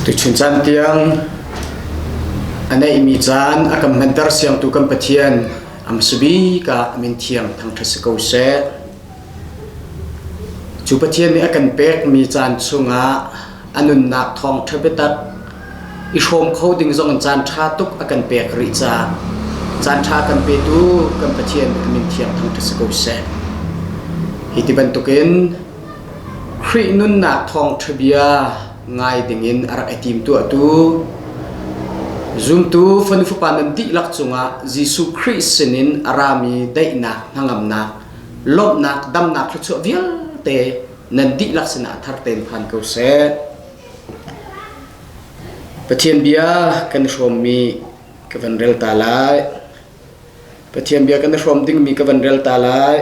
Tuchun caan tiang a neihmi caan a kan hmanter siangtu kan Pathian amsabik ah min thiang thangṭhat si ko seh. Cu Pathian nih a kan pekmi caan chungah a nunnak thawngṭha biatak i hrawm kho ding zong in caan ṭha tuk a kan pek rih caah caan ṭha kan petu kan Pathian a min thiang thangṭhat si ko seh. Hi ti bantukin Khrih nunnak thawngṭhabia ngai dingin a rak i tim tuahtu, zumtu Fanu Fapa nan dihlak cungah Jesuh Khrih sinin a rami daihnak, hnangamnak, lawmhnak, damnak thluachuah vialte nan dihlak sinah a thar ten phan ko seh. Pathian bia kan hrawmmi ka van rel ta lai. Pathian bia kan i hrawm dingmi ka van rel ta lai.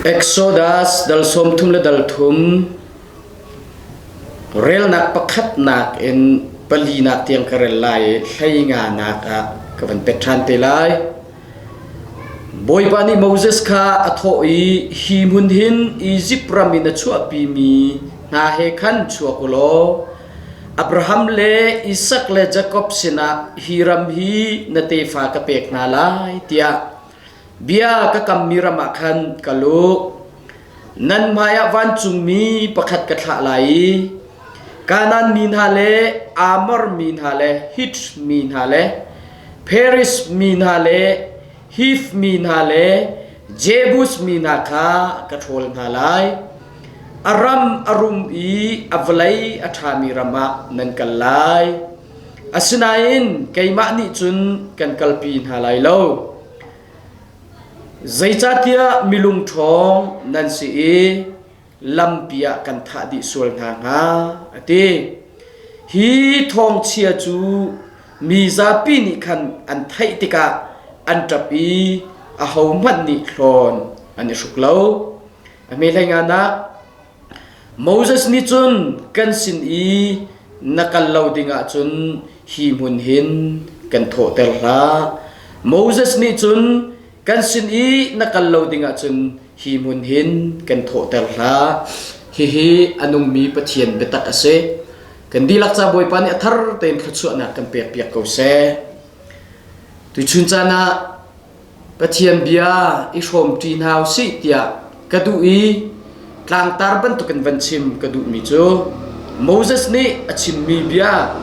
Exodus dal sawm thum le dal thum relnak pakhatnak in palinak tiang ka rel lai i hleinganak ah ka van pet ṭhan te lai. Bawipa nih Moses kha a thawh i, Hi hmun hin Izipt ram in a chuahpimi hna he khan chuak u law Abraham le Isak le Jakob sinah hi ram hi na tefa ka pek hna lai, tiah bia ka kammi ram ah khan kal u. Nan hmaiah vancungmi pakhat ka thlah lai i Kanaan mi hna le Amor mi hna le Hit mi hna le Periz mi hna le Hif mi hna le Jebus mi hna kha ka ṭhawl hna lai. A ram a rum i a vawlei a ṭhami ram ah nan kal lai. Asinain keimah nih cun kan kalpi hna lai lo. Zeicahtiah mi lungṭhawng nan si i lampi ah kan thah dih sual hna hnga, a ti. Hi thawngchia cu mi zapi nih khan an theih tikah an ṭap i ahohmanh nih hlawn an i hruk lo. A hme hleingan ah Moses nih cun kan sin i na kal lo dingah cun hi hmun hin kan thawhter hlah. Moses nih cun kan sin i na kal lo dingah cun hi hmun hin kan thawhter hlah. Hihi a nungmi Pathian biatak a si. Kan dihlak ca Bawipa nih a thar tein thluachuahnak kan pekpiak ko seh. Tuchun caan ah Pathian bia i hrawm ṭi hna u sih tiah ka duh i tlangtar bantukin van chim ka duhmi cu Moses nih a chimmi bia,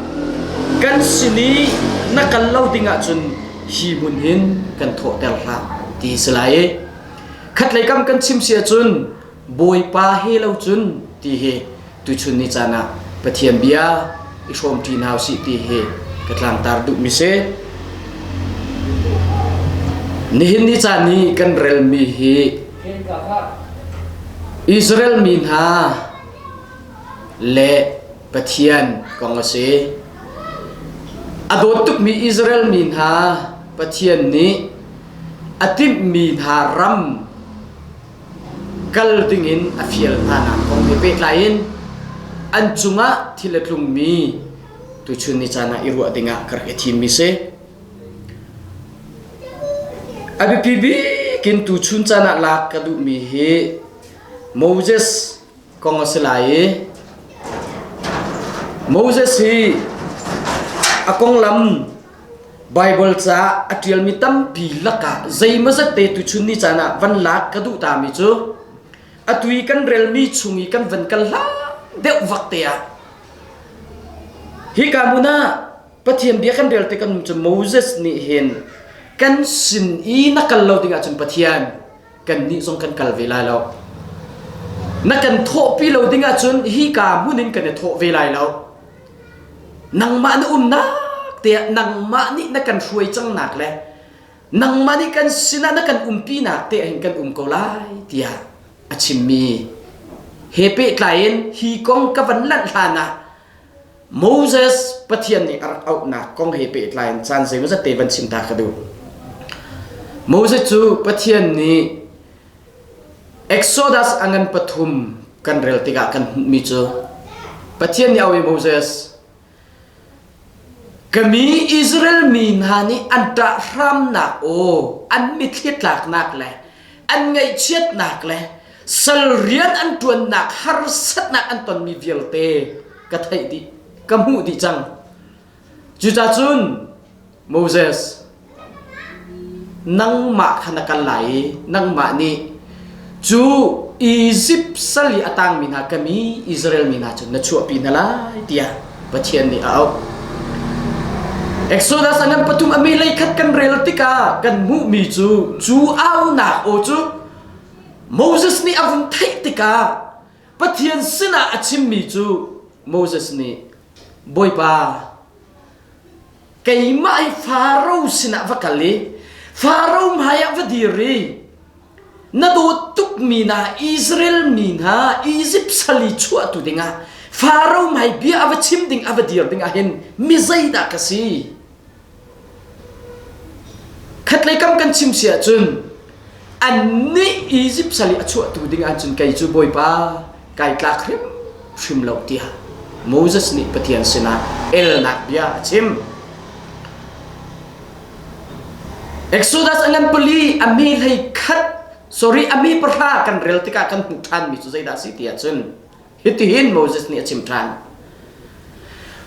kan sin i na kal lo dingah cun hi hmun hin kan thawhter hlah, ti a si lai i khatlei kam kan chim si ahcun Bawipa he lo cun ti hi tuchun ni caan ah Pathian bia i hrawmṭi hna usih ti hi ka tlangtar duhmi si. Nihin ni caan i kan relmi hi Israel mi hna le Pathian kong a si. A dawt tukmi Israel mi hna Pathian nih a timhmi hna ram kal dingin a fial hnanak kong he pehtlai in an cungah thil a tlungmi tuchun ni caan ah i ruah dingah ka rak i thimmi si. A biapi bik in tuchun caan ah lak ka duhmi hi Moses kong a si lai i Moses hi a konglam Baibal caah a ṭialmi tampi lakah zeimazat te tuchun ni caan ah van lak ka duh tami cu atu i kan relmi chung i kan van kal hlah deuh vak te ah hika hmun ah Pathian bia kan rel tikah nu cu Moses nih hin kan sin i na kal lo dingah cun Pathian kannih zong kan kal ve lai lo na kan thawhpi lo dingah cun hika hmun in kan i thawh ve lai lo nangmah na umnak tiah nangmah nih na kan hruai cangnak le nangmah nih kan sinah na kan umpinak te hin kan um ko lai tiah a chimmi he pehtlai in hi kong ka van lanh hlan ah Moses Pathian nih a rak auhnak kong he pehtlai in caan zeimaw zat te van chim ta ka duh Moses cu Pathian nih Exodus a ngan pathum kan rel tikah kan hmuhmi cu Pathian nih a oih Moses ka mi Israel mi hna nih an ṭah hramnak aw an mitthlitlaknak le an ngaihchiatnak le sal rian an ṭuannak harsatnak an tonmi vialte ka theih dih ka hmuh dih cang. Cucacun Moses, nangmah kha na kal lai i nangmah nih cu Izipt sal i a tangmi hna kam i Israel mi hna cu na chuahpi hna lai, tiah Pathian nih a auh. Exodus angan pathum a meilei khat kan rel tikah kan hmuhmi cu cu aunak aw cu Moses nih a vung theih tikah Pathian sinah a chimmi cu Moses nih Bawipa, keimah i Faro sinah va kal i Faro hmaiah va dir i na dawt tukmi hna Israel mi hna Izipt sal i chuahtu dingah Faro hmai bia a va chim ding a va dir dingah hin mi zeidah ka si? Khatlei kam kan chim si ahcun an nih Egypt sal i a chuahtu ding ahcun kei cu Bawipa kai tlak hrim hrim lo tiah Moses nih Pathian sinah elnak bia a chim. Exodus a ngan pali a mi hlei khat sorry a mi pahra kan rel tikah kan hmuh ṭhanmi cu zeidah a si ti ahcun Hitihin Moses nih a chim ṭhan.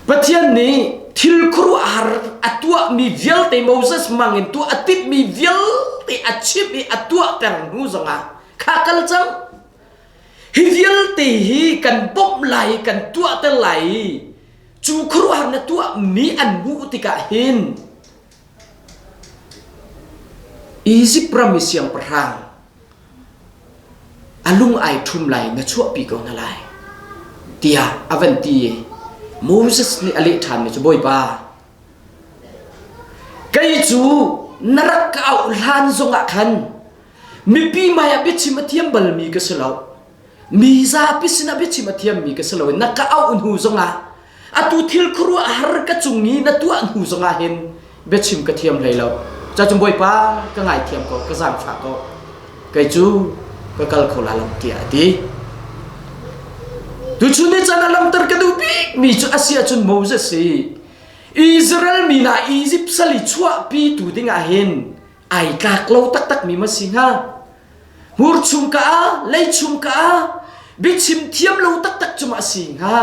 Pathian nih thil khuaruahhar a tuahmi vialte Moses mangin tuah a timhmi vialte a chimh i a tuah peng hnu zongah kha kal cang. Hi vialte hi kan bawmh lai i kan tuahter lai i cu khuaruahhar na tuahmi an hmuh tikah hin Izipt ram i siangpahrang A lung ai ṭhum lai na chuahpi ko hna lai, tiah a van ti i Moses nih a leh ṭhanmi cu, Bawipa, kei cu na rak ka auh hlan zongah khan mipi hmaiah biachim a thiam balmi ka si lo. Mi zapi sinah biachim a thiammi ka si lo na ka auh hnu zongah atu thil khuaruah har ka cung i na tuah hnu zongah hin biachim ka thiam hlei lo cacun bawipa ka ngaithiam ko ka zaangfah ko kei cu ka kal kho la lam tiah a ti tuchun ni chan a lamtar ka duh bikmi cu a si ahcun Moses si Israel mi na Egypt sali chuahpi tu dingah hin ai tlak lo taktak mi ma si hnga hmur chung ka a lei chung ka a biachim thiam lo taktak cuma si hnga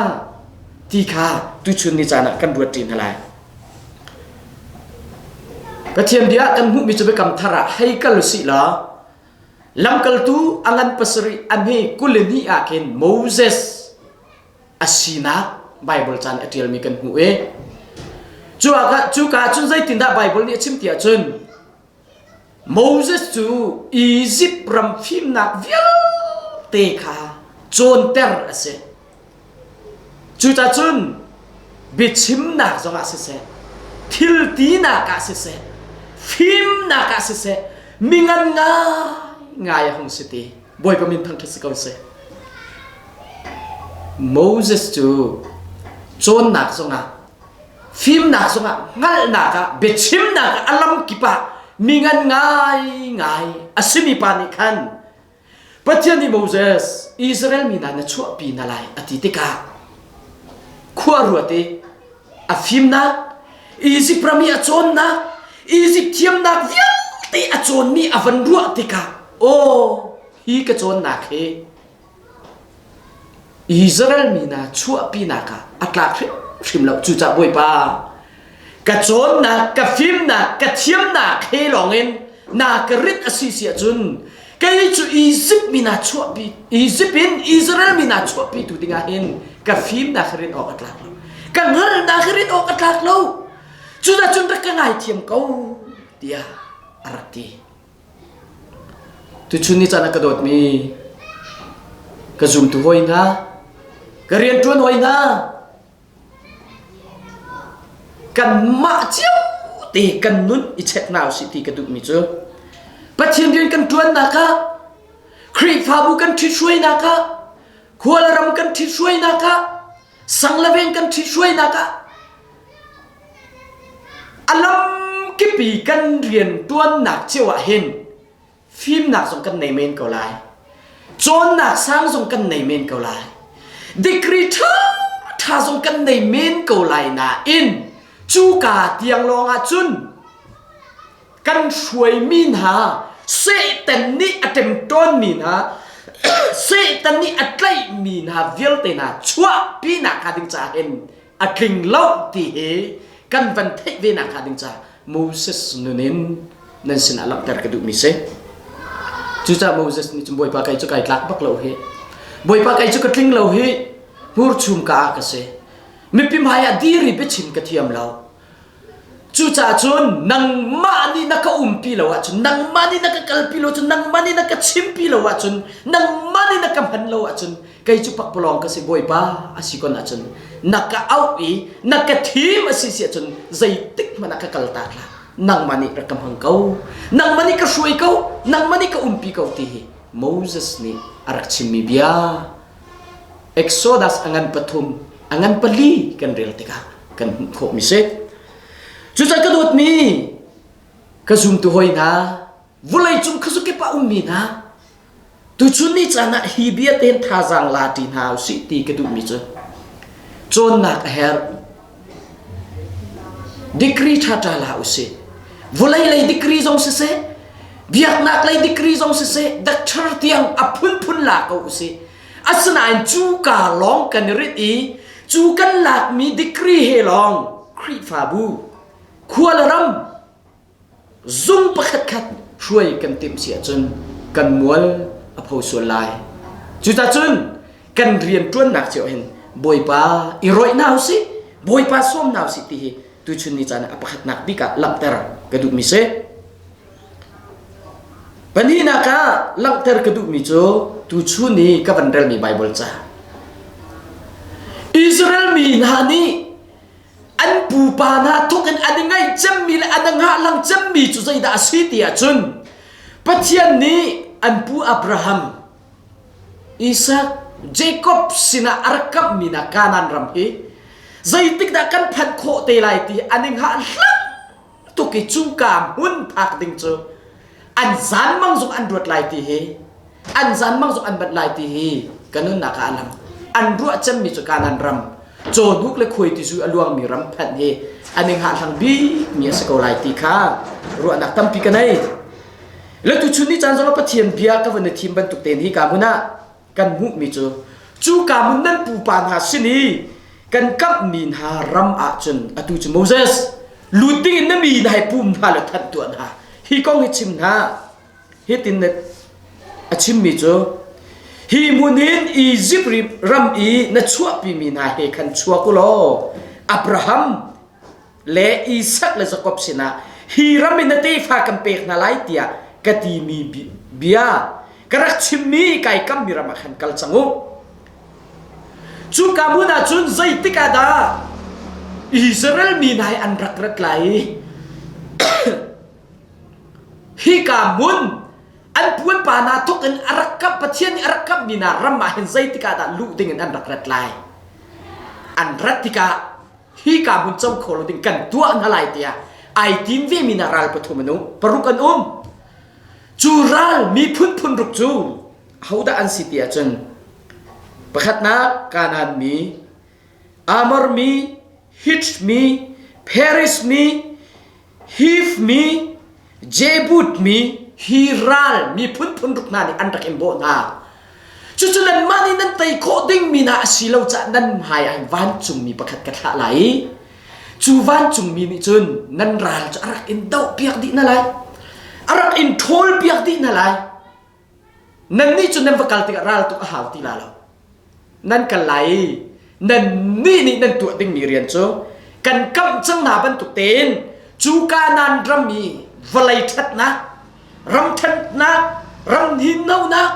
ti kha tuchun ni caan ah kan ruat ṭin lai Pathian bia kan hmuhmi cu biakam thar ah hei kal si la lamkaltu angan pasarih anhi kulini ah kin Moses asinak Bible chan a ṭialmi kan hmuh e cu ka cun zeitin dah Bible nih a chim tiah cun Moses cu Izipt ram fimnak vialte kha cawnter a si. Cucacun biachimnak zongah siseh, thiltinak ah siseh, fimnak ah siseh, mi ngan ngaingai a hung si ti Bawipa min thangṭhat si ko seh. Moses cu cawnnak zongah fimnak zongah hngalhnak ah biachimnak a lam kip ah mi ngan ngaingai a simi pa nih khan Pathian nih Moses Israel mi hna na chuahpi na lai a ti tikah khua ruat i a fimnak Izipt ram i a cawnnak Izipt thiamnak vialte a cawnmi a van ruah tikah aw hi ka cawnnak hi Israel mi hna chuahpinak ah a tlak hrimhrim lo. Cucaah Bawipa, ka cawnnak, ka fimnak, ka thiamnak he lawngin na ka rit a si si ahcun kei cu Izipt mi na chuahpi Izipt in Israel mi na chuahpitu dingah hin ka fimnak ka rit awk a tlak lo. Ka hngalhnak ka rit awk a tlak lo. Cudah cun rak ka ngaithiam ko tiah a rak ti. Tuchun ni caan ah ka dawtmi ka zumtu hawi hna, ka rianṭuan hawi hna, kanmah cio te kan nun i check hna usih ti ka duhmi cu Pathian rian kan ṭuannak ah, Khrihfabu kan ṭhithruainak ah, khua le ram kan ṭhithruainak ah, sang le veng kan ṭhithruainak ah a lamkipi kan rianṭuannak cio ah hin fimnak zong kan nei men ko lai cawnnak sang zong kan nei men ko lai degree ṭha ṭha zong kan nei men ko lai nain cuka tiang lawng ah cun kan hruaimi hna Satan nih a ṭemṭawnmi hna Satan nih a tlaihmi hna vialte hna chuahpi nakhnga ding caah hin a tling lo ti hi kan van theih ve nakhnga ding caah Moses nun in nan sinah langhter ka duhmi si cucaah Moses nih cun bawipa kei cu kai tlak bak lo hi bawipa kei cu ka tling lo hi hmurchum ka a ka si mipi hmaiah diri biachin ka thiam lo Cucaah cun nangmah nih na ka umpi lo ahcun, nangmah nih na ka kalpi lo ahcun, nangmah nih na ka chimpi lo ahcun, nangmah nih na ka hman lo ahcun, kei cu pakpalawng ka si Bawipa a si kon ahcun, na ka auh i na ka thim a si si ahcun, zeitik hmanh ah ka kal ta hlah. Nangmah nih rak ka hmang ko. Nangmah nih ka hruai ko. Nangmah nih ka umpi ko ti hi Moses nih a rak chimmi bia Exodus a ngan pathum a ngan pali kan rel tikah kan hmuh khawhmi si. Cucaah ka dawtmi ka zumtu hoi hna vulei cung kha zukip a ummi hna tuchun ni caan ah hi bia ten thazaang la ṭi hna u sih ti ka duhmi cu cawnnak a herh Degree ṭhaṭa la usih. Vulei lei degree zong siseh, biaknak lei degree zong siseh, doctor tiang a phunphun la ko usih. Asinain cu ka lawng kan i rit i cu kan lakmi degree he lawng Khrihfabu, khua le ram, Zung pakhatkhat hruai kan timh si ahcun kan mual a pho sual lai. Cutacun kan rianṭuannak cio hin Bawipa i roih hna usih, Bawipa sawm hna usih ti hi tuchun ni caan ah a pakhatnak bik ah langhter ka duhmi si. Pahnihnak ah langhter ka duhmi cu tuchun i ka van relmi Baibal ca. Israel mi hna nih an pupa hna thawk in an i ngaih cemmi le an ngah lang cemmi cu zeidah a si ti ahcun Pathian nih an pu Abraham Isaac Jacob sinah a rak kamhmi na Kanaan ram hi zeitik dah kan phanh khawh te lai ti an i ngah hlang tuk i cungka hmun phak ding cu an zanmang zong an ruat lai ti hi an zanmang zong an banh lai ti hi ka nunnak ah a lang an ruah cemmi cu kanan ram cawduk le khuai tisu a luangmi ram phanh hi an i ngahlang bikmi a si ko lai ti kha ruahnak tampi ka nei letu chun ni caan zong pathian bia ka vun i thim bantuk te hi ka hmun ah kan hmuhmi cu cuka hmun nan pupa hna sin i kan kamhmi hna ram ah cun atu cu Moses lut dingin na mi hna hi pum hna le thanh tuah hna hi kong hi chim hna hitin a chimmi cu hi hmun hin Izipt ram i na chuahpimi hna he khan chuak u law Abraham le Isak le Jakob sinah hi ram in na tefa kan pek hna lai tiah ka timi bia ka rak chimmi kai kammi ram ah khan kal cang u cuka hmun ah cun zeitik ah dah Israel mi nai an rak rat lai i hika mun an puanpa na thuk in a rak kam pathian nih a rak kammi na ram ah hin zeitik ah dah luh ding in an rak rat lai an rat tikah hi ka hun co kho lo ding kan tuah hna lai tiah ai tim ve mi na ral pathum an um paruk an um cu ral miphun phun ruk cu hodah an si ti ahcun pakhatnak kanan mi amor mi hit mi paris mi hif mi Jebut mi hi ral miphun phunruk hna nih an rak in bawh hna. Cucu nanmah nih nan tei khawh dingmi na a si lo cah nan hmai ah hin vancungmi pakhat ka thlah lai i cu vancungmi nih cun nan ral cu a rak in dohpiak dih na lai. A rak in ṭhawl piak dih na lai. Nannih cu nan va kal tikah ral tuk a hau ti la lo. Nan kal lai i nannih nih nan tuah dingmi rian cu kan kamh cang hna bantuk tein cu Kanan ram i vawlei ṭhatnak, ram ṭhatnak, ram hninnonak,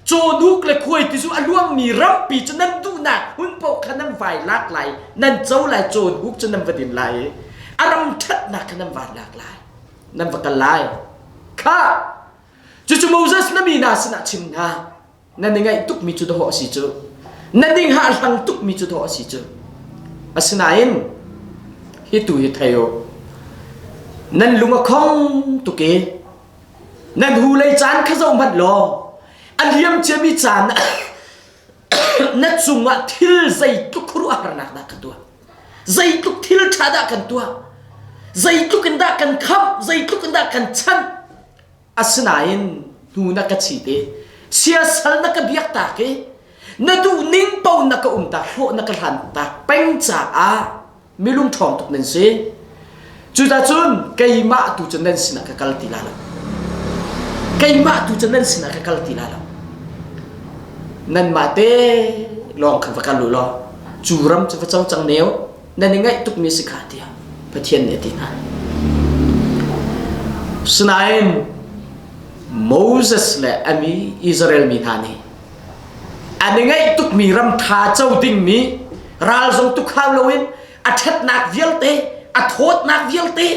cawhnuk le khuai tizu a luangmi rampi cu nan duhnak hmun paoh kha nan vai lak lai, nan co lai, cawhnuk cu nan va din lai i a ram ṭhatnak kha nan van lak lai. Nan va kal lai. Kha Cucu Moses na mi hna sinah chim hna. Na ni ngaih tukmi cu dawh a si cu. Na ning hahlang tukmi cu dawh a si cu. Asinain hi tu hi thei u. Nan lung a khong tuk i nan hu lei caan kha zoh hmanh law a liam ciami caan na cungah thil zeitluk khuaruahharnak dah kan tuah. Zeitluk thil ṭha dah kan tuah. Zeitluk in dah kan khamh. Zeitluk in dah kan chanh. Asinain hnu na ka chit i siasal na ka biaktak i na duhning paoh na ka umtak hrawh na ka hlantak peng caah mi lungṭhawng tuk nan si. Cuticun keimah tu cu nan sinah ka kal ti lai lo. Keimah tu cu nan sinah ka kal ti lai lo. Nanmah te lawng khan va kal u law cu ram cu va co cang neu. nan i ngaih tukmi si kha tiah Pathian nih a ti hna. Sinain Moses le a mi Israel mi hna nih an i ngaih tukmi ram ṭha co dingmi ral zo tuk hau loin a ṭhatnak vialte a thawtnak vialte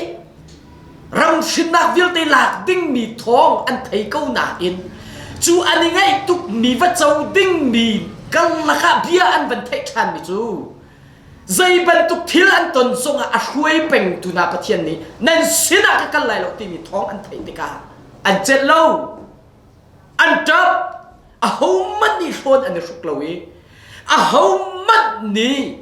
ram hrinnak vialte lak dingmi thawng an thei ko nain cu an i ngaih tukmi va co dingmi kal lakah bia an van theih ṭhanmi cu Zei bantuk thil an ton zongah a hruai pengtu hna Pathian nih nan sinah ka kal lai lo timi thawng an theih tikah an celh lo. An ṭap. Ahohmanh nih hrawn an i hruk lo i ahohmanh nih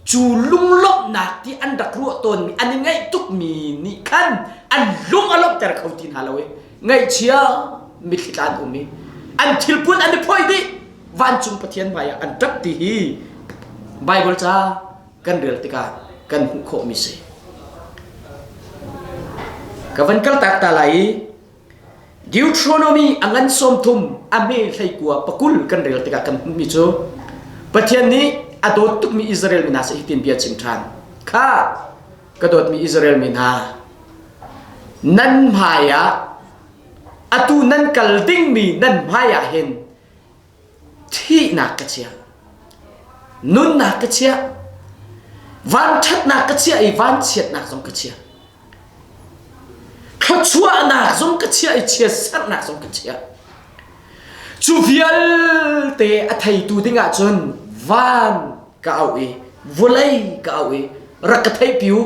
cu lunglawmhnak ti an rak ruah tawnmi an i ngaih tukmi nih khan an lung a lawmhter kho ti hna lo i ngaihchia mitthli tla an um i an thil pun an i phoi dih vancung pathian hmaiah an ṭap ti hi Baibal ca kan rel tikah kan hmuh khawhmi si ka van kal tak ta lai i Deuteronomy angan som thum a hme hlei kua pakul kan rel tikah kan hmuhmi cu Pathian nih a dawt tukmi Israel mi hna se hitin bia chim ṭhan kha ka dawtmi Israel mi hna, nan hmaiah atu nan kal dingmi nan hmaiah hin thihnak ka chiah, nunnak ka chiah, vanṭhatnak ka chiah i vanchiatnak zong ka chiah, thluachuahnak zong ka chiah i chiatserhnak zong ka chiah. Cu vialte a theitu ding ahcun van ka auh i vawlei ka auh i rak ka theih piu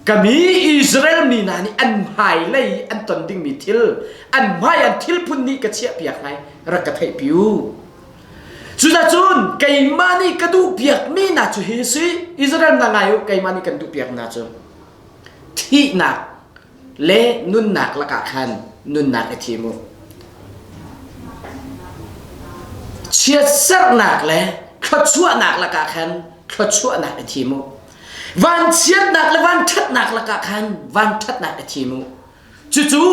kami Israel mi hna nih an hmailei an ton dingmi thil an hmai an thil phun nih ka chiah piak ngai rak ka theih piu cucacun keimah nih ka duh piakmi hna cu hi si Israel hna ngai u keimah nih kan duh piak hna cu thihnak le nunnak lakah khan nunnak i thim u. Chiatserhnak le thluachuahnak lakah khan thluachuahnak i thim u. Vanchiatnak le vanṭhatnak lakah khan vanṭhatnak i thim u. Cucu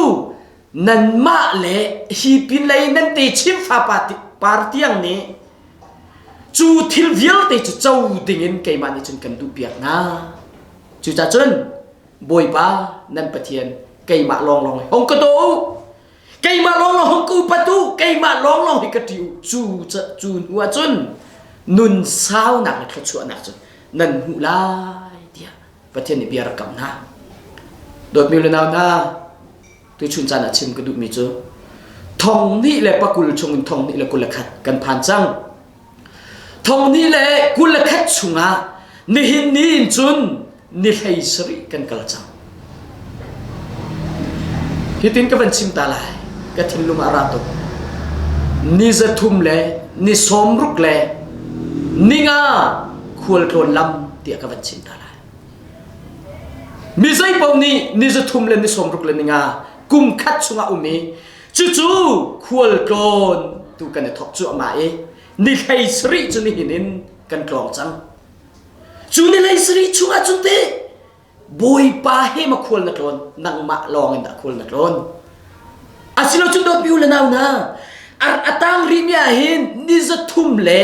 nanmah le hi pinlei nan te chimfa par tiang nih cu thil vialte cu co dingin keimah nih cun kan duhpiak hna. Cucacun Bawipa nan Pathian keimah lawnglawng hi hong ka daw keimah lawnglawng hong ka upat u keimah lawnglawng hi ka ṭi u cu cu hnu ah cun nun saunak le thluachuahnak cun nan hmuh lai tiah Pathian nih bia rak kam hna dawtmi le nau hna tuchun caan ah chim ka duhmi cu thong hnih le pakul chung in thong hnih le kul le khat kan phan cang Thong ni le kul le khat chungah nihin ni in cun ni hlei sarih kan kal cang. Hitin ka van chim ta lai, ka thinlung a ra tuk. Ni zathum le ni sawmruk le ninga khualtlawn lam tiah ka van chim ta lai. Mi zeipaoh nih ni zathum le ni sawmruk le ninga kum khat chungah um i Cucu khualtlawn tu kan i thok cuahmah i ni hlei sarih cu nihin in kan tlawng cang. Cu ni hlei sarih chungah cun te Bawipa he ma khual na tlawn nangmah lawng in dah khual na tlawn. Asilo cun dawpi u le nau na ar atang ri mi ah hin ni za thum le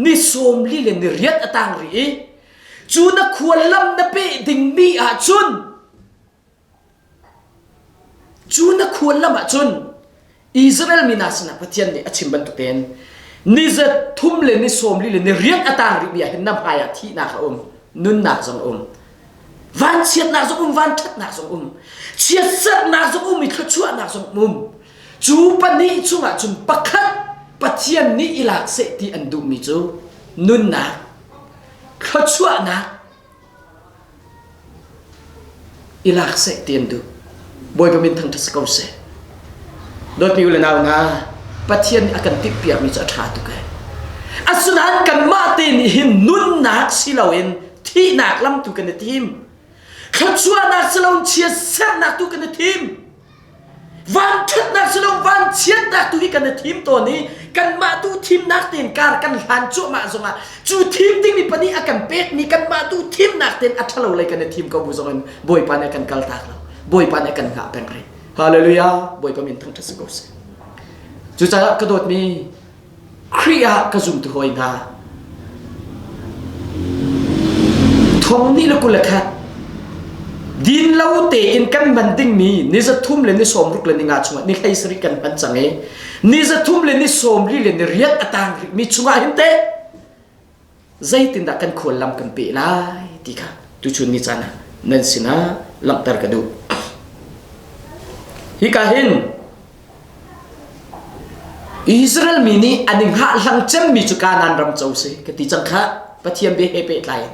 ni sawm li le ni riat atang ri i cu na khual lam na peh ding mi ah cun Cu na khuallam ahcun Israel mi hna sinah Pathian nih a chim bantukin ni za thum le ni sawm li le ni riat a tang rihmi ah hin na hmaiah thihnak a um, nunnak zong a um, vanchiatnak zong um, vanṭhatnak zong um, chiatsarnak zong um i thluachuahnak zong um. Cu pahnih chungah cun pakhat Pathian nih i lak seh ti an duhmi cu nunnak, thluachuahnak, i lak seh ti an duh bawipa min thangṭhat si ko seh dawtmi u le nau hna pathian nih a kan timhpiakmi cu a ṭha tuk e asinain kanmah te nih hin nunnak si loin thihnak lam tu kan i tim thluachuahnak si loin chiatserhnak tu kan i tim Vanṭhatnak si lo vanchiatnak tu hi kan i thim tawn i kanmah tu thimnak tein kar kan hlan cuahmah zongah cu thim dingmi pa nih a kan pekmi kanmah tu thimnak tein a ṭhalo lei kan i thim ko bu zongin Bawipa nih a kan kal tak lo Bawipa nih a kan hngah peng rih Hallelujah Bawipa min thangṭhat si ko seh Cucaah ka dawtmi Khrih ah ka zum ti hawi hna. Thong nih le kule kha din lo tein kan hman dingmi ni zathum le ni sawmruk le ni nga chungah ni hlei sarih kan hman cang i ni zathum le ni sawmri le ni riat a tang rikmi chungah hin teh zeitindah kan khual lam kan pe lai ti kha tuchun ni caan ah nan sinah langhter ka duh hi ka hin Israel mi nih an i hngahhlang cemmi cu Kanan ram co si ka ti cang kha Pathian bia he pehtlai in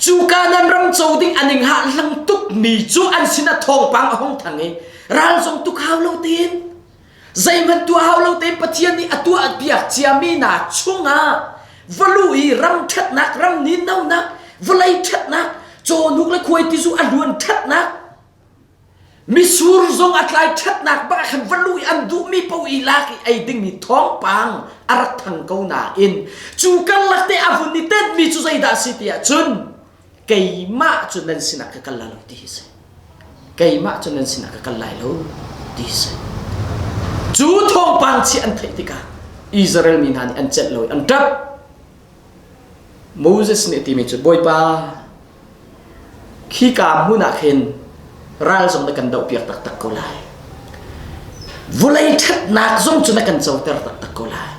cu Kanan ram co ding an i hngahhlang tukmi cu an sinah thawngpang a hong thang i ral zong tuk hau lo tiin Zeihmanh tuah hau lo te Pathian nih a tuah piak ciami hna chungah valu i ram ṭhatnak, ram nin nonak, vawlei ṭhatnak, cawhnuk le khuai tizu a hluan ṭhatnak, misur zong a tlai ṭhatnak bak khan valu i an duhmi paoh i lak i ei dingmi thawngpang a rak thang ko nain cu karlak te a vun i tenhmi cu zeidah a si tiah cun keimah cu nan sinah ka kal lai lo ti hi si. Keimah cu nan sinah ka kal lai lo ti hi si. Cu thawngpang chi an theih tikah Israel mi hna nih an celh lo i an ṭap. Moses nih a timi cu, Bawipa, khi ka hmun ah khin ral zong na kan dohpiak taktak ko lai vulei ṭhatnak zong cu na kan coter taktak ko lai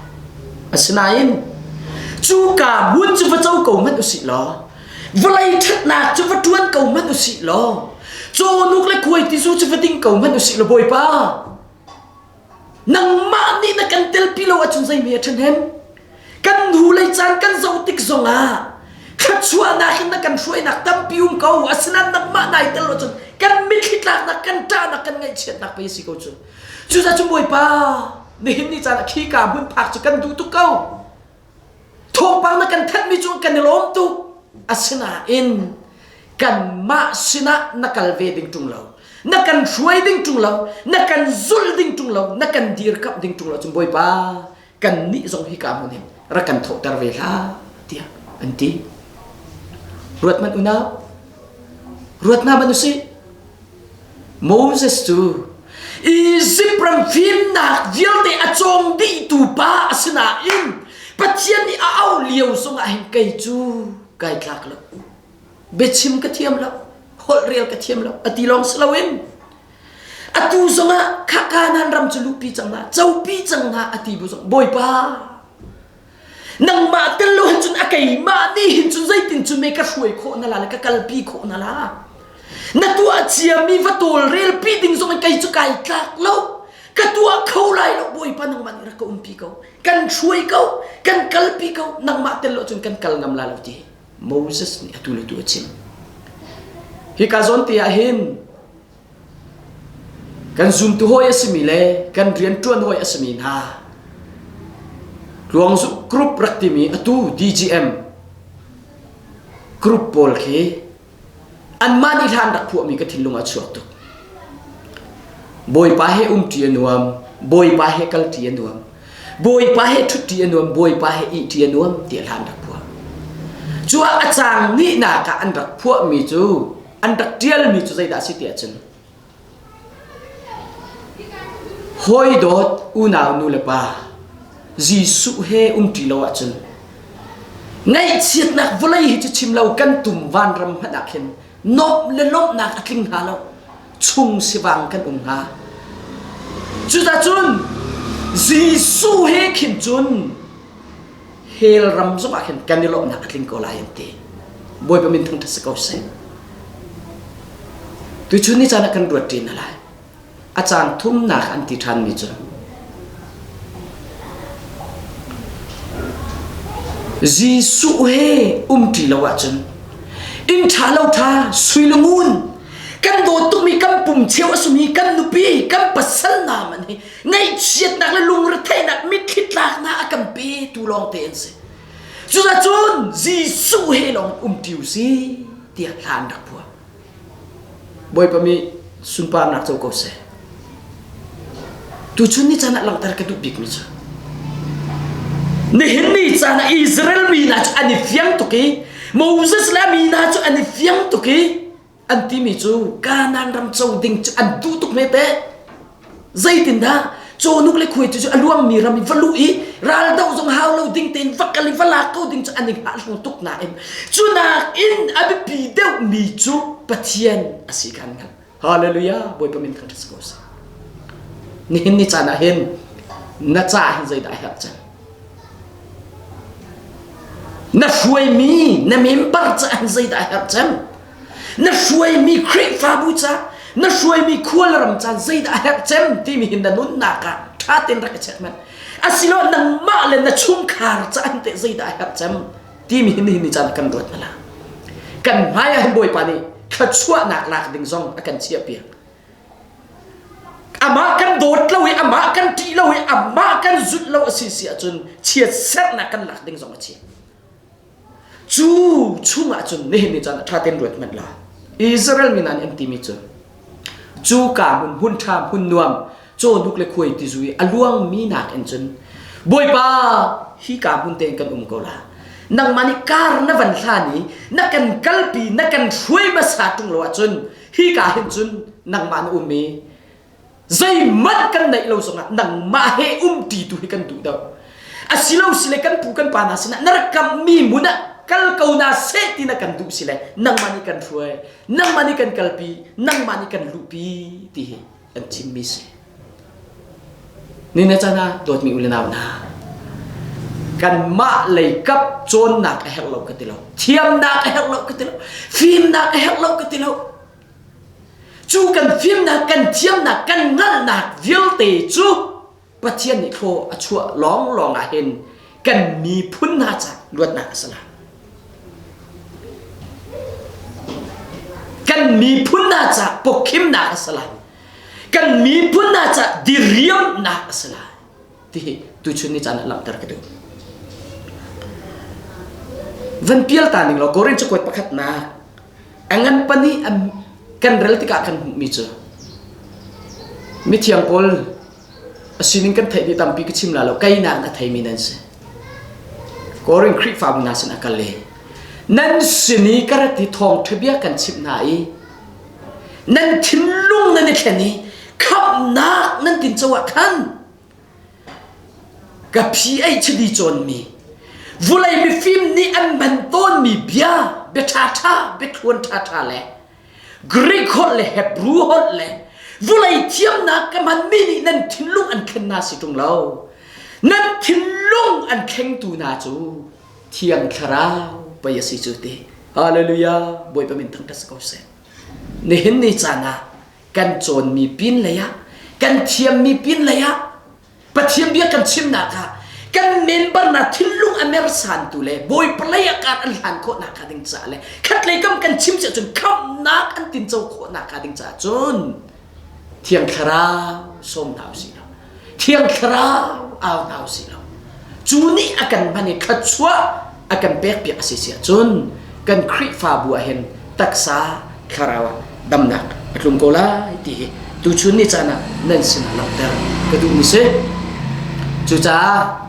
asinain cu ka buat cu va co ko hmanh usih law vawlei ṭhatnak cu va ṭuan ko hmanh usih law cawnuk le kuai tizu cu va ding ko hmanh usih law bawipa Nangmah nih na kan telpi lo ahcun zei hme a ṭhahnem? Kan nu lei caan kan zoh tik zongah thluachuahnak in na kan hruainak tampi um ko. Asinain nangmah nai tel lo cun kan mitthli tlaknak, kan ṭahnak, kan ngaihchiatnak pei a si ko cu. Cucaah cun Bawipa, nihin ni caan ah khi ka hmun phak cu kan duh tuk ko. Thawngpang na kan thanh mi cu kan i lawm tuk. Asinain kanmah sinah na kal ve ding ṭung lo. Na kan hruai ding ṭung lo. Na kan zulh ding ṭung lo. Na kan dirkamh ding ṭung lo. Cun Bawipa, kannih zong hi ka hmun in rak kan thoter ve hlah, tiah an ti. Ruat hmanh unau. Ruat hna ban u sih. Moses cu Izipt ram fimnak vialte a cawng dihtu pa a si nain Pathian nih a auh lio zongah hin kei cu kai tlak lo biachim ka thiam lo holhrel ka thiam lo a ti lawng si loin atu zongah khaka nan ram cu luhpi cang hna copi cang hna a ti bu zong bawipa nangmah tel lo hin cun a keimah ni hin cun zeitin cu me ka hruai khawh na la le ka kalpi khawh na la na tuah ciami va tawlrel pi ding zong in kei cu kai tlak lo ka tuah kho lai lo bawipa nangmah nih rak ka umpi ko kan hruai ko kan kalpi ko nangmah tel lo cun kan kal ngam la lo ti Moses nih atu le tu a chim hi ka zawn te ah hin Kan zumtu hawi a simi le kan rianṭuan hawi a simi hna Tluangzuk Group rak timi atu DGM group pawl khi anmah nih hlan rak phuahmi ka thinlung a chuak tuk. Bawipa he umṭi a nuam, Bawipa he kalṭi a nuam, Bawipa he ṭhutṭi a nuam, Bawipa he ihṭi a nuam tiah hlan rak phuah. Cu ah a cang hnihnak ah an rak phuahmi cu an rak ṭialmi cu zeidah a si ti ahcun hawi dawt unau nulepa Jesuh he umṭi lo ahcun ngaihchiatnak vawlei hi cu chim lo kan tum vanram hmanh ah khin nuamh le lawmhnak a tling hnga lo chung sivang kan um hnga cucacun Jesuh he khin cun hell ram zongah khin kan i lawmhnak a tling ko lai an ti bawipa min thangṭhat si ko seh tuchun ni caan ah kan ruat ṭin a lai a caan thumnak an ti ṭhanmi cu Jesuh he um ṭi lo ahcun inn ṭha lo ṭha suilangun kan dawt tukmi kan pum cheu a sumi kan nupi kan pasal hna man hi Ngaihchiatnak le lungretheinak mitthli tlaknak a kan petu lawngte an si. Cuzacun Jesuh he lawng umṭi u si tiah thla an rak phuah. Bawipa mi sunparnak co ko seh. Tuchun ni caan ah langhter ka duh bikmi cu nihin ni caan ah Israel mi hna cu an i fiang tuk i Moses le mi hna cu an i fiang tuk i an timi cu Kanan ram co ding cu an duh tuk hme teh zeitindah Chonuk le Khuai cu a luangmi ram in va luh i raldoh zong hau lo ding tein va kal i va lak ko ding cu an i hahlu tuk nain cu nakin a biapi deuhmi cu Pathian a si kan hngalh hallelujah bawipa min kan ras ko si nihin ni caan ah hin na ca hin zeidah a herh cang Na hruaimi na member cu an zeidah a herh cem? Na hruaimi Khrihfabu ca, na hruaimi khual ram caan zeidah a herh cem timi hi na nunnak ah ṭha tein rak i check men. Asilo nangmah le na chungkhar ca an teh zeidah a herh cem timi hi nihin ni caan kan ruat hna la. Kan hmai ah hin Bawipa nih thluachuahnak lak ding zong a kan chiah piak. Amah kan dawt lo i amah kan ṭih lo i amah kan zulh lo a si si ahcun chiatserhnak kan lak ding zong a si. Cu chungah cun nihin ni caan ah ṭha tein ruat hmanh la. Israel mi nan an timi cu cu ka hmun hmun ṭha hmun nuam cawhnuk le khuai tizu i a luangmi nakin cun Bawipa hi ka hmun tein kan um ko la nangmah nih kar na van hlan i na kan kalpi na kan hruai hmasa ṭung lo ahcun hika hin cun nangmah na um i zeihmanh kan neih lo zongah nangmah he um ti tu hi kan duh deuh asilo sile kan pu kan pa hna sinah na rak kamhmi mun ah kal ko na seh tina kan duh sile nangmah nih kan hruai nangmah nih kan kalpi nangmah nih kan luhpi ti hi an thimmi si. Ni na can ah dawtmi u le nau hna, kanmah lei kap cawnnak a herh lo ka ti lo. Thiamnak a herh lo ka ti lo. Fimnak a herh lo ka ti lo. Cu kan fimnak, kan thiamnak, kan hngalhnak vialte cu Pathian nih thlaw a chuah lawnglawng ah hin kan miphun hna ca luatnak a si lai. Kan miphun hna ca pokkhimnak a si lai. Kan miphun hna ca diriamnak a si lai. Ti hi tuchun ni caan ah langhter ka duh. Van pial ta ning law Korin cakuat pakhat na a ngan pani kan rel tikah kan hmuhmi cu mithiang Paul A sining kan theih mi tampi ka chim la lo kei nakin a thei mi nan si. Korin Khrihfa mi hna sin a kal i nan sin i ka rat i thawng ṭhabia kan chimh hna i nan thinlung nan i thlen i khamhnak nan tin co ah khan ka phi ei chidi cawn mi vulei mifim nih an man tawn mi bia bia ṭha ṭha biathluan ṭha ṭha le Greek holh le Hebrew holh le vulei thiamnak ka hmanmi nih nan thinlung an khen na si ṭung lo. Nan thinlung an thlengtu hna cu thiang thlarau pei a si cu ti. Hallelujah. Bawipa min thangṭhat si ko seh. Nihin ni caan ah kan cawnmi pin lei ah, kan thiammi pin lei ah Pathian bia kan chimnak ah kan member na thinlung a mersantu le bawi palei a kar an hlan khawh nakhnga ding caah le khatlei kam kan chim si ahcun khamhnak an tinco khawh nakhnga ding caah cun thiang thlarau sawm hna u si law thiang thlarau au hna u si law cu nih a kan hman i thluachuah a kan pekpiak a si siahcun kan Khrihfabu ah hin taksa thlarau ah damnak a tlung ko lai ti hi tuchun ni caan ah nan sinah langhter ka duhmi si. Cucaah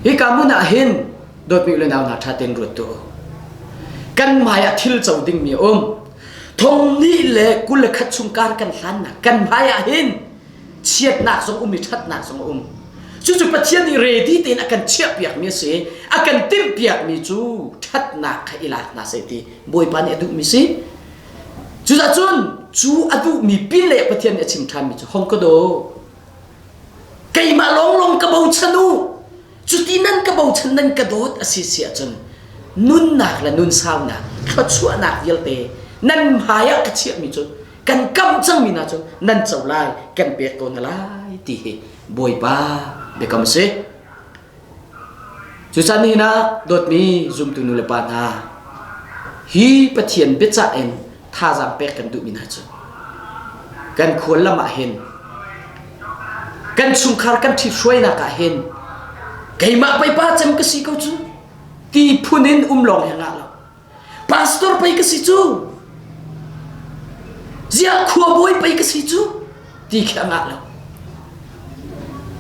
hi ka hmun ah hin dawtmi le nau hna ṭha tein ruat tu kan hmai ah thil co dingmi a um thong hnih le kul le khat chung kar kan hlannak kan hmai ah hin chiatnak zong um i ṭhatnak zong a um. Cucu Pathian nih ready tein a kan chiahpiakmi a si i a kan timhpiakmi cu ṭhatnak kha i lak hna seh ti Bawipa nih a duhmi si. Cucun cu a duhmi pin le Pathian nih a chim ṭhanmi cu hong ka do. Keimah lawnglawng ka bochan u. Cuti nan ka bochan nan ka dawt a si si ahcun nunnak le nun saunak thluachuahnak vialte nan hmai ah ka chiahmi cu kan kamh cangmi hna cu nan co lai kan pek tawn lai ti hi bawipa biakam a si cucan hi na dawtmi zumtu nu le pa hna hi pathian biacah in thazaang pek kan duhmi hna cu kan khual lam ah hin kan chungkhar kan ṭhithruainak ah hin keimah pei pa cem ka si ko cu ti phun in um lawng he ngah lo pastor pei ka si cu ziah khuabawi pei ka si cu ti khi a ngah lo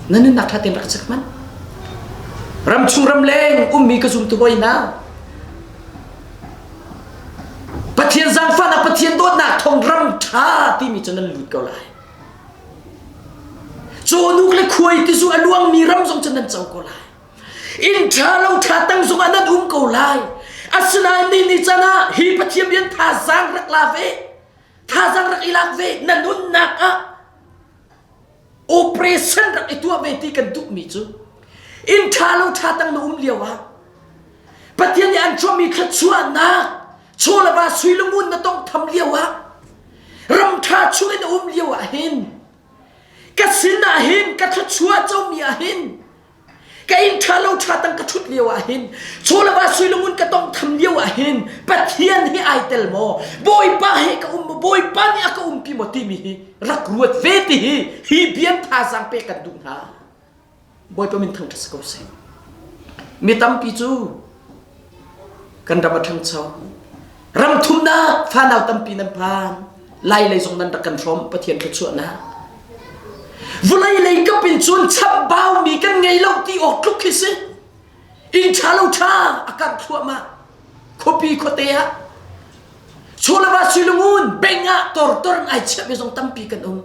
na nunnak ṭha tein rak chek man ram chung ram leng ummi ka zumtu boy hna pathian zaangfah na pathian dawtnak thong ram ṭha timi cu nan lut ko lai cawhnuk le khuai ti zu a luangmi ram zong cu nan co ko lai Inn ṭha lo ṭha tang zongah nan um ko lai. Asinain ni ni can ah hi Pathian rian thazaang rak la ve. Thazaang rak i lak ve. Na nunnak ah operation rak i tuah ve ti kan duhmi cu inn ṭha lo ṭha tang na um lio ah Pathian nih an chuahmi thluachuahnak chawlava suilungun na tong tham lio ah ram ṭha chung in a um lio ah hin ka sin ah hin ka thluachuah comi ah hin ka ing ṭha lo ṭha tang ka ṭhut lio ah hin chulava suilung in ka tong tham lio ah hin pathian hi ai tel maw bawipa he ka um maw bawipa nih a ka um pi maw timi hi rak ruat ve ti hi hi bian thazaang pe kan duh hna bawipa min thang ṭha si ko seh mi tampi cu Kan ram a ṭhangcho. Ram thumnak fanau tampi nan phan. Lai lei zong nan rak kan hrawm Pathian thluachuahnak. Vulei lei kap in cun chambau mi kan ngei lo ti awk tluk hi si. Inn ṭha lo ṭha a karh thluahmah. Khuapi khuate ah Chulava Silungun beng ah tortorn ai chiah mi zong tampi kan um.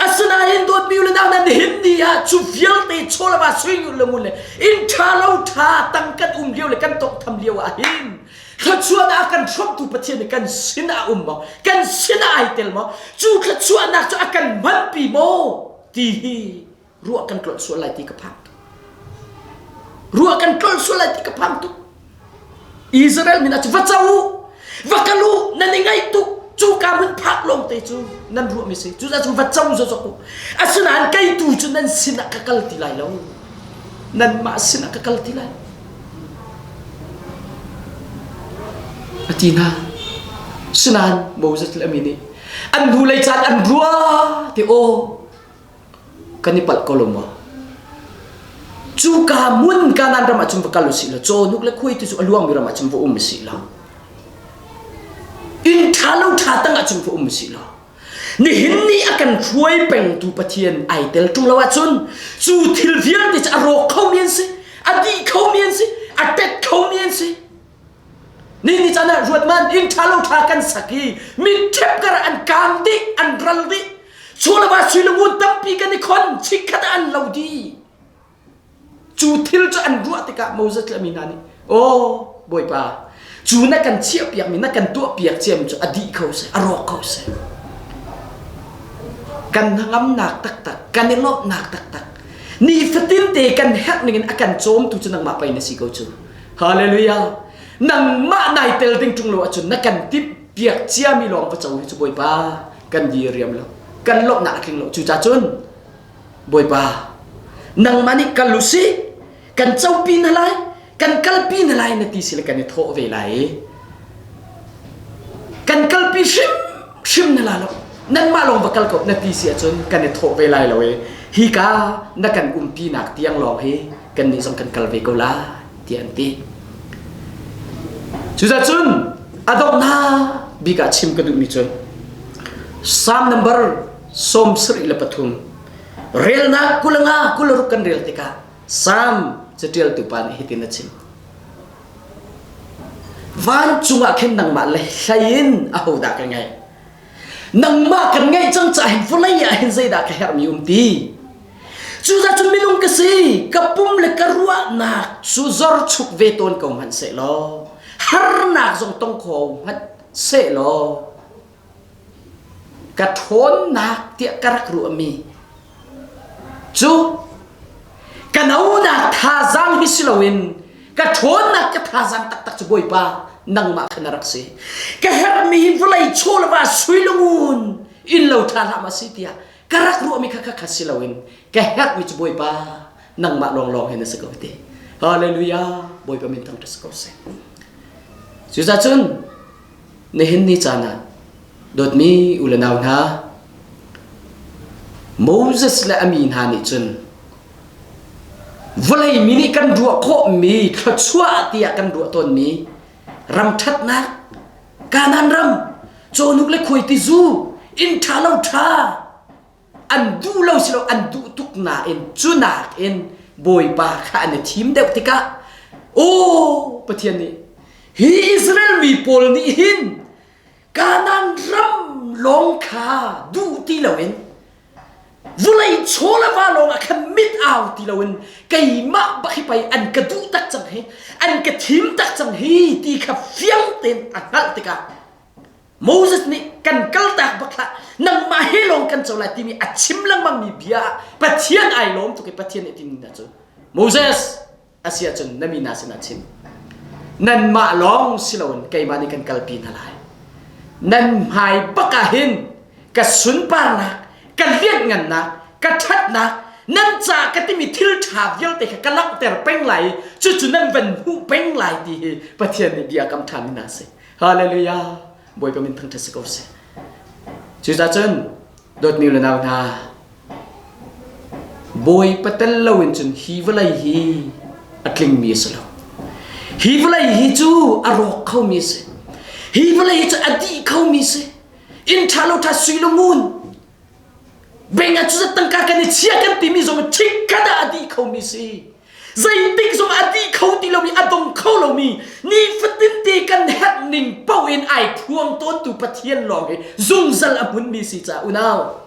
asinain dawtmi le nang nan him ni ah cu vialte chawlama suingul le ngul le in ṭha lo ṭha tang kan um lio le kan tawnghtham lio ah hin thluachuahnak kan hrawmtu Pathian kan sin ah um maw kan sin ah ai tel maw cu thluachuahnak cu a kan manpi maw ti hi ruah kan tlolh sual lai ti ka phang tuk ruah kan tlolh sual lai ti ka phang tuk Israel min acu va co va kal u nan i ngaih tuk cu ka hun phak lawng te cu nan ruah mi si cu cu va co zo zok u asinain kei tu cu nan sin ah ka kal ti lai lo nan mah sin ah ka kal ti lai atina sinan moses le mi nih an hnu lei caan an rua te o kan i palh ko lo maw cuka mun kanan ram ahcun va kal u sih law cawnuk le khuai tu cu a luangmi ram ahcun va um u sih law inn ṭha lo ṭha tang ahcun va um u sih law nihin ni a kan hruai pengtu pathian ai tel ṭung lo ahcun cu thil vialte cu a rawk kho mi an si a dih kho mi an si a tet kho mi an si Ni ni chan ah ruatman inn ṭha lo ṭha kan sak i mitṭhep kar an kaam dih an ral dih sulama suilangu tampi kan i khon chikkhat ah an lo di cu thil cu an ruah tikah Moses le mina nih aw bawipa cu na kan chiah piakmi na kan tuah piak ciam cu a dih ko seh a rawk ko seh kan hnangamnak taktak kan i lawmhnak taktak nifatin te kan herh ningin a kan cawmtu cu nangmah pei na si ko cu Hallelujah. Nangmah nai tel ding ṭung lo ahcun na kan timh piak ciami lawng va co hi cu Bawipa kan diriam lo. Kan lawmhnak a tling lo. Cucacun Bawipa nangmah nih kal u si kan copi na lai kan kalpi na lai na ti sila kan i thawh ve lai i kan kalpi hrim hrim na la lo nanmah lawng va kal ko na ti si ahcun kan i thawh ve lai lo i hika na kan umpinak tiang lawng hi kannih zong kan kal ve ko la tiah an ti cuzacun a donghnak bik ah chim ka duhmi cu Psalm number som sri le pathum relnak kulanga kularuk kan rel tikah Psalm catialtu pa nih hitin a chim vancung ah khin nangmah le hlain ahodah ka ngaih nangmah kan ngeih cang caah vawlei ah hin zeidah ka herhmi um ti cuza cu minung ka si ka pum le ka ruahnak cu zor chuk ve tawn ko hmanh se law harnak zong tong kho hmanh se law ka ṭhawnnak tiah ka rak ruahmi Cu ka nonak thazaang hi si loin ka ṭhawnnak ka thazaang taktak cu Bawipa nangmah kha na rak si. Ka herhmi hi vawlei chawlva suilungun in lo ṭha hram a si tiah ka rak ruahmi kha kha kha si loin ka herhmi cu Bawipa nangmah lawnglawng hi na si ko ti. Halleluja! Bawipa min thangṭhat si ko seh. Cuzacun Na hin ni caan ah dawtmi u le nau hna, Moses le a mi hna nih cun vawlei mi nih kan ruah khawhmi thluachuah tiah kan ruah tawnmi ram ṭhatnak, Kanaan ram, cawhnuk le khuaiti zu, inn ṭha lo ṭha, an duh lo si lo an duh tuk nain cu nakin Bawipa kha an i thim deuh tikah aw Pathian nih hi Israel mi pawl nih hin Kanaan ram lawng kha duh ti loin vulei chaw le va lawngah khan mit au ti loin keimah bak hi pei an ka duh tak cang hi an ka thim tak cang hi ti kha fiang tein a hngalh tikah Moses nih kan kaltak bak hlah nangmah he lawng kan co lai timi a chim lengmangmi bia Pathian ai lawm tuk i Pathian nih tin hna cu Moses a si ahcun na mi hna sinah chim nanmah lawng si loin keimah nih kan kalpi hna lai nan hmai bakah hin ka sunparnak ka lianhngannak ka ṭhatnak nan caah ka timi thil ṭha vialte kha ka langhter peng lai i cucu nan van hmuh peng lai ti hi Pathian nih bia kam ṭhami hna a si Hallelujah! Bawipa min thangṭhat si ko sih. Cucaah cun dawtmi le nau hna, Bawipa tel loin cun hi vawlei hi a tlingmi a si lo. Hi vawlei hi cu a rawk khomi a si. Hi vawlei hi cu a dih khomi a si. Inn ṭha lo ṭha sui lo ngun. Bengah cu tangka kan i chia kan timi zong in ṭhikkhat ah a dih khomi a si. Zeitik zong a ti kho ti lo i a dong kho lomi nifatin te kan herh ning paoh in ai thuam tawntu Pathian lawng i zungzal a hmunmi si ca unau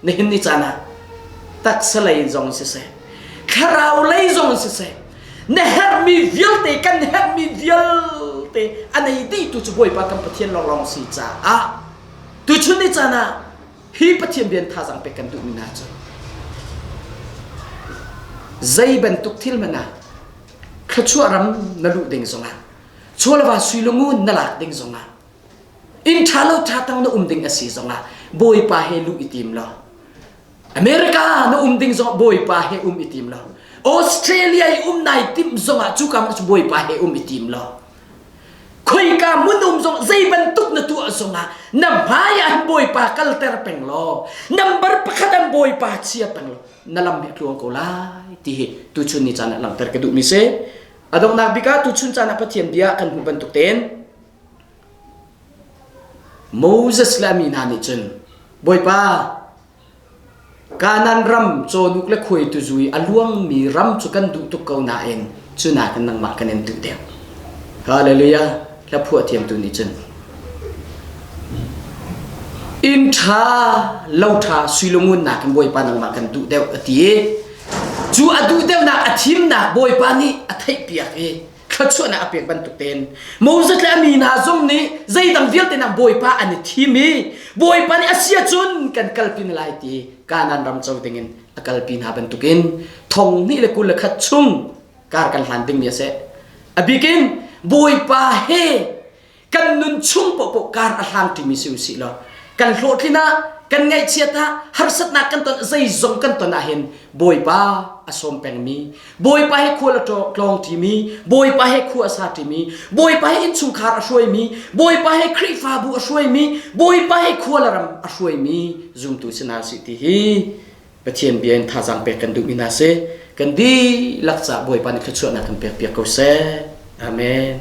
nihin ni caan ah taksa lei zong siseh thlarau lei zong siseh na herhmi vialte kan herhmi vialte a nei dihtu cu Bawipa kan Pathian lawnglawng si caah tuchun ni caan ah Hi Pathian rian thazaang pek kan duhmi hna cu zei bantuk thil hmanh ah thluachuah ram na luh ding zongah chawlava suilungu na lak ding zongah inn ṭha lo ṭha tang na um ding a si zongah bawipa he luh i tim law America na um ding zong bawipa he um i tim law Australia i um nai tim zongah cu kam cu bawipa he um i tim law khoika mun um zong zei bantuk na tuah zongah na hmai an bawipa kalter peng law nambar pakhat an bawipa chia peng law na lam bik tluang ko lai ti hi tuchun ni caan ah langhter ka duh mi si adonghnak bika tuchun caan ah pathian bia kan hmu bantuk ten Moses le ami hna nih cun bawipa Kanan ram cawhnuk le khuaitu zu i a luangmi ram cu kan duh tuk ko nain cuna kan nangmah kan in duh deuh. Hallelujah! Hla phuah thiamtu nih cun inn ṭha lo ṭha suilungunnak in Bawipa nangmah kan duh deuh a ti i cu a duh deuhnak a thimnak Bawipa nih a theihpiak i thluachuahnak a pek bantuk tein Moses le a mi hna zong nih zeidang vialte nang Bawipa an i thim i Bawipa nih a sia cun kan kalpi na lai ti Kanan ram co dingin a kalpi hna bantukin thong hnih le kul le khat chung kar kan hlan dingmi a si a bikin Bawipa he kan nun chung paohpaoh kar a hlang ṭimi si usih law kan hlawhtlin ah kan ngaihchiat ah harsatnak kan ton zeizong kan ton ahhin bawipa a sawm pengmi bawipa he khua a tlawng ṭimi bawipa he khua a sa ṭimi bawipa he innchungkhar a hruaimi bawipa he khrihfabu a hruaimi bawipa he khualaram a hruaimi zumtu si hna si ti hi pathian bia in thazaang pek kan duhmi hna si kan dihlak ca bawipa nih thluachuahnak kan pek piak ko seh amen